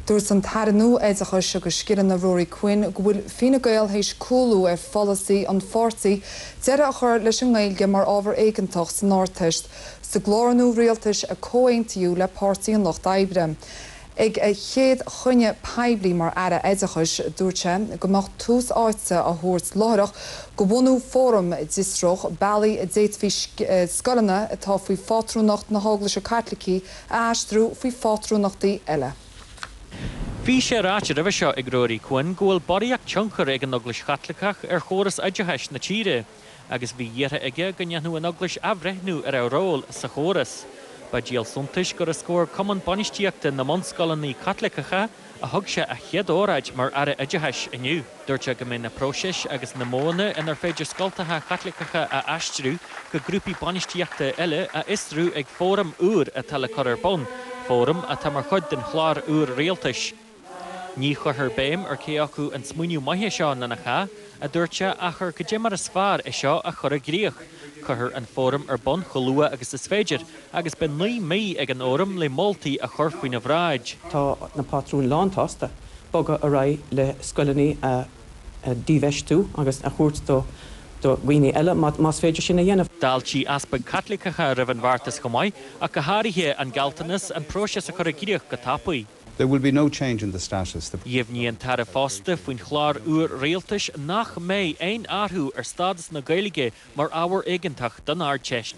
Dúirt an tAire nua Oideachais agus Scileanna Ruairí Quinn go bhfuil Fine Gael théis cúlú ar pholasaí an pháirtí deireadh a chur leis an nGaeilge mar ábhar éigeantach san Ardteist sa gclár nua rialtais a comhaontaíodh le Páirtí an Lucht Oibre. Ag a chéad chruinniu poiblí mar Aire Oideachais dúirt sé go mbeadh tús áite á thabhairt láithreach do bhunú fóram a d'fhiosródh bealaí a d'fhéadfaí scoileanna atá faoi phátrúnacht na hEaglaise Caitlicí a aistriú faoi phátrúnachtaí eile. Bhí sé ráite roimhe seo ag Ruairí Quinn go bhfuil barraíocht tionchair ag an Eaglais Chaitliceach ar chóras oideachais na tíre agus bhí iarrtha aige go ndéanfadh an Eaglais athbhreithniú ar a ról sa chóras. Ba díol suntais gur os comhair Cumann Bainistíochta na mBunscoileanna Caitliceacha, a thug sé a chéad óráid mar Aire Oideachais inniu. Dúirt sé go mbeidh na próisis agus na modhanna inar féidir scoltacha Caitliceacha a aistriú go grúpaí bainistíochta eile á bhfiosrú ag fóram úr atá le cur ar bun, fóram atá mar chuid den chlár úr rialtais. Ní chuirfear béim ar cé acu an smaoineamh maith é seo nó nach ea, a dúirt sé, ach ar goidé mar is fearr é seo a chur i gcrích. Cuirfear an fóram ar bun chomh luath agus is féidir, agus beidh naoi mí ag an fhóram le moltaí a chur faoina bhráid. Tá na pátrúin lán-tsásta bogadh ar aghaidh le scoileanna a dhífheistiú agus a thabhairt do dhaoine eile más féidir sin a dhéanamh. D'fháiltigh Easpaig Caitliceacha roimh an bheartas chomh maith, ach go háirithe an gealltanas an próiseas a chur i gcríoch go tapaidh. There will be no change in the status, the. Dheimhnigh an tAire fosta faoin chlár úr rialtais nach mbeidh aon athrú ar stádas na Gaeilge mar ábhar éigeantach don Ardteist.